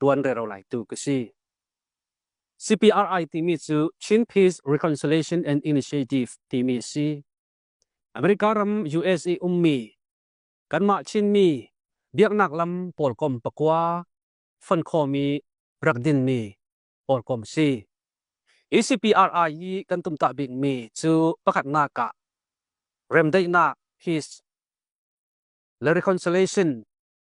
ṭuan rero laitu ka si. CPRI timi cu Chin Peace Reconciliation and Initiative timi a si. America ram US i ummi kanmah Chinmi biaknak lam pawlkom pakua fon khawmi rak dinmi pawlkom si. Hi CPRI hi kan tumtah bikmi cu pakhatnak ah remdaihnak, peace, le reconciliation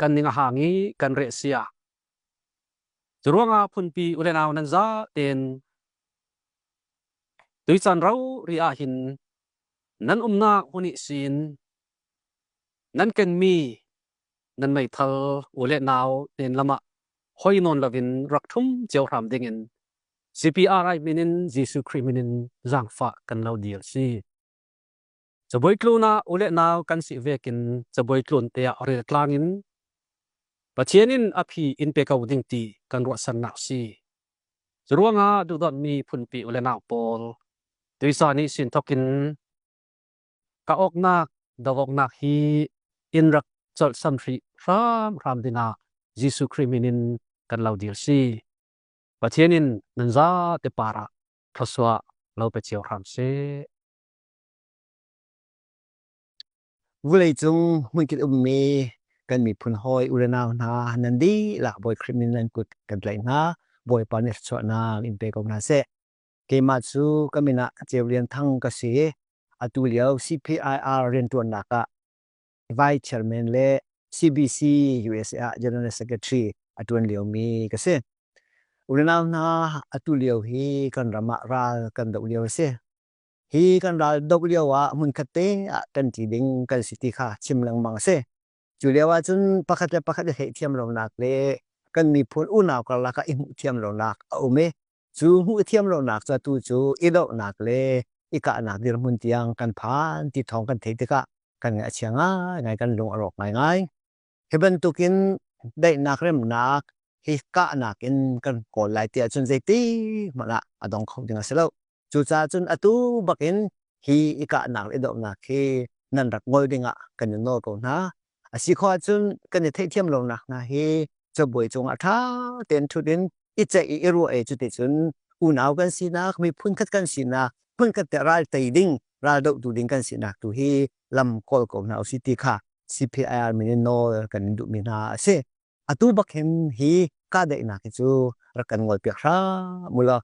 kan ning a hang i kan reh si ah. Cu ruangah phunpi u le nau nan za tein tuican ro ri ah hin nan umnak hmun i sin nan kenmi nan meithal u le nau tein lamah hoi nawn lovin rak thum cio hram ding in CPR min in Jesuh Khrih min in zaangfah kan lo dir si. Cabuai tluna u le nau kan si ve kin cabuai tlun te ah rel tlang in Pathian in a phi in pe ko ding ti kan ruahsannak si. Curuangah duhdonmi phunpi u le nau pawl tuisa nih sin thokin ka oknak dawoknak hi in rak colh samhri hram hram dina Jesuh Khrih min in kan lo dir si. Pathian in nan za te para thosua lo pe cio hram si. Vuleicung hmunkit ummi kan miphun hawi urenau hna nan dihlak Bawi Khrih min nan kut kan tlaih hna. Bawipa nih thluachuahnak in pe ko hna seh. Keimah cu ka min ah Ceu Lian Thang ka si i atu lio CPIR rianṭuannak ah Vice Chairman le CBC USA ah General Secretary a ṭuan liomi ka si. Urenau hna atu lio hi kan ram ah ral kan doh lio a si. Hi kan ral dok lio ah hmunkhat te ah kan ti ding kan si ti kha chim lengmang a si. Cu lio ah cun pakhat le pakhat i theihthiam lonak le kan miphun unau karlak ah i hmuh thiam lonak a um i, cu hmuh thiam lonak cu atu cu i dohnak le i kahnak dirhmun tiang kan phan ti thawng kan theih tikah kan ngaih a chia ngai ngai, kan lung a rawk ngai ngai. Hi bantukin daihnak remnak hi kahnak in kan kawl lai tiah cun zeiti hmanh ah a dong kho ding a si lo. Cucaah cun atu bakin hi i kahnak i dohnak hi nan rak ngol dingah kan i nawl ko hna. A si kho ahcun kan i theihthiam lonak hna hi cabuai cungah ṭha tein ṭhut in i ceih i i ruah e cuti cun unau kan sinak, miphun khat kan sinak, hmun khat te ral tei ding, ral dohtu ding kan sinak tu hi lam kawl ko hna usi ti kha CPIR min in nawl kan in duhmi hna a si. Atu bak hin hi kahdaihnak hi cu rak kan ngol piak hram ulo.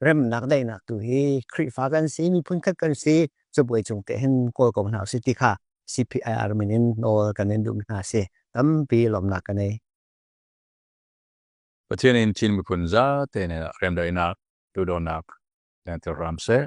Remnak daihnak tu hi Khrihfa kan si, miphun khat kan si, cabuai cung te hin kawl ko hna usi ti kha CPIR min in nawl kan in duhmi hna a si. Tampi lawmnak kan ei. Pathian in Chin miphun zate nih remdaihnak, duhdawtnak, lengtir ram seh.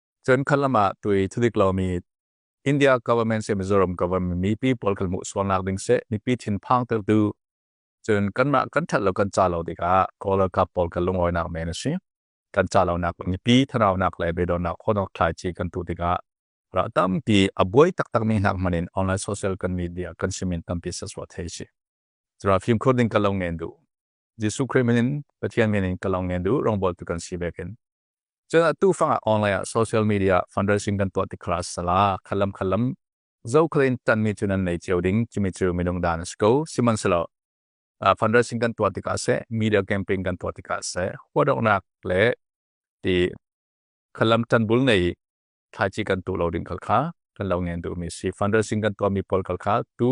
Cun khat lam ah tui thudik lomi India government se Mizoram government mipi pawl kan hmuh sualnak ding se mipi thinphang tertu cun kanmah kan that lo kan ca lo tikah Kawl ralkap pawl kan lungawinak men a si kan ca lonak mipi thanaunak le beidonnak khonok thlai chi kan tu tikah ra tampi a buai taktak mi hnak manin online social kan media kan simin tampi saswa thei si Zara phim khur ding kalong ngen du Jesu Christ minin Pathian minin kalong ngen du rongbol tu kan si vekin Cun atu fangah online ah social media fundraising kan tuah tik kha sala khalam khalam zokhal in tanmi cu nan nei cio ding cumi cu minung dan a si ko sihmanhselaw fundraising kan tuah tikah seh media campaign kan tuah tikah seh huadoknak le ti khalam tanbul nei thlaici kan tu lo ding kal kha kan lo ngen duhmi si fundraising kan tuahmi pawl kal kha tu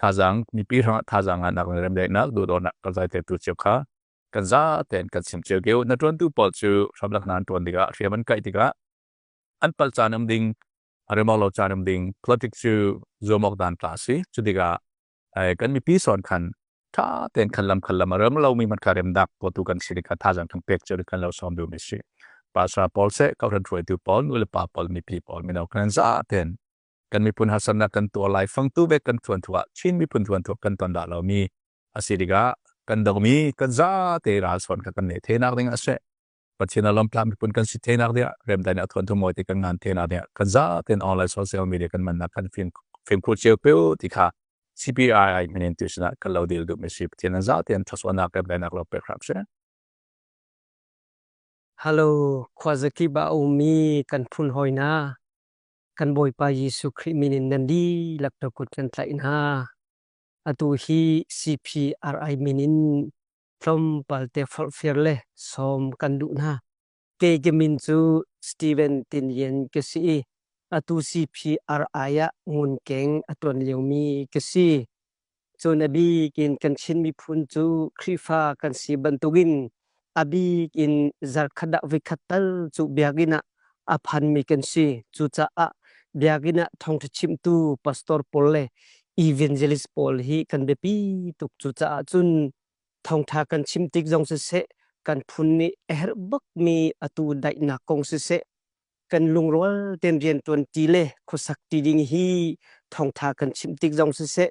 thazaang mipi hrangah thazaang ah nak le remdaihnak duhdawtnak kan zai tetu cio kha kan za tein kan sim cio keu na tuantu pawl cu hramlak nan tuan tikah hriam an kaih tikah an pal caan am ding remok lo caan am ding politic cu zuamok dan ta si cu tikah kan mipi son khan tha ten khan lam khan lam rem lo mi man ka rem dak ko tu kan si ka thazaang thang pek chu kan lo som du mi si pasra paul se ka ran ruai tu paul nu le pa paul mi pi paul mi no kan za ten kan miphun harsatnak kan tuar lai fangtu vek kan thuan thua Chin miphun thuan thua kan ton da lomi asi tikah kan dongmi kan za te ral son ka kan le thenak ding ase Pathian alam tla miphun kan si thenak dia remdai na thuan thu moi te kan ngan thenak dia kan za ten online social media kan man na kan fin fin khu cheu pe ti kha CPI min institution kan lo dil du mi si Pathian za ten thaswana ka benak lo pe khrak se Hello khwazaki ba umi kan phun hoina kan Bawipa Jesuh Khrih min in nan dihlak na kut kan tlaih hna. Atu hi CPRI min in tlawmpal te forhfial le sawm kan duh hna. Kei ka min cu Steven Tin Yen ka si i atu CPRI ah ngun keng a tuan liomi ka si. Cun a bik in kan Chin miphun cu Khrihfa kan si bantukin a bik in zarkhat ah voikhat tal cu biakinn ah a phanmi kan si. Cucaah biakinn ah thawngṭha chimtu pastor pawl le evangelist pawl hi kan biapi tuk. Cucaah cun thawngṭha kan chim tik zong siseh, kan phun nih a herh bakmi atu daihnak kong siseh, kan lungrual tein riantuan ti le khuasak ti ding hi thawngtha kan chimh tik zong siseh,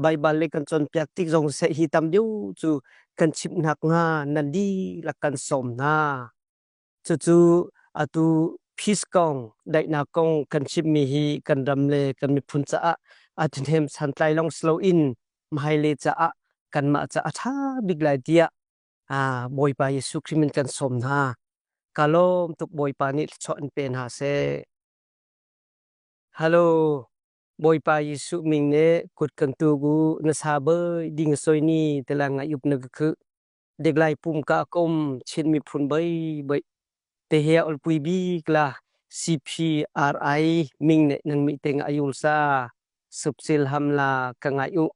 Baibal le kan cawnpiak tik zong siseh hi tam deuh cu kan chimhnak hnga na dihlak kan sawm hna. Cucu atu peace kong, daihnak kong kan chimhmi hi kan ram le kan miphun caah a thahnem santlai lawng si loin hmailei caah kanmah caah a tha bik lai tiah Ah Bawipa Jesuh Khrih min kan sawm hna. Ka lawm tuk Bawipa nih thluachuah an pe hna seh. Halo, Bawipa Jesuh min nih kut kan tuk u na sa bơi ding soi ni tela ngai up na ka khuh. Dek lai pum ka kom chin mi phun bai bai. Te he olpui bik la CPRI ming ne nang mi teng ayul sa. Subsil hamla ka ngai u.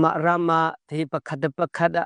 Ma rama te pakhat pakhat a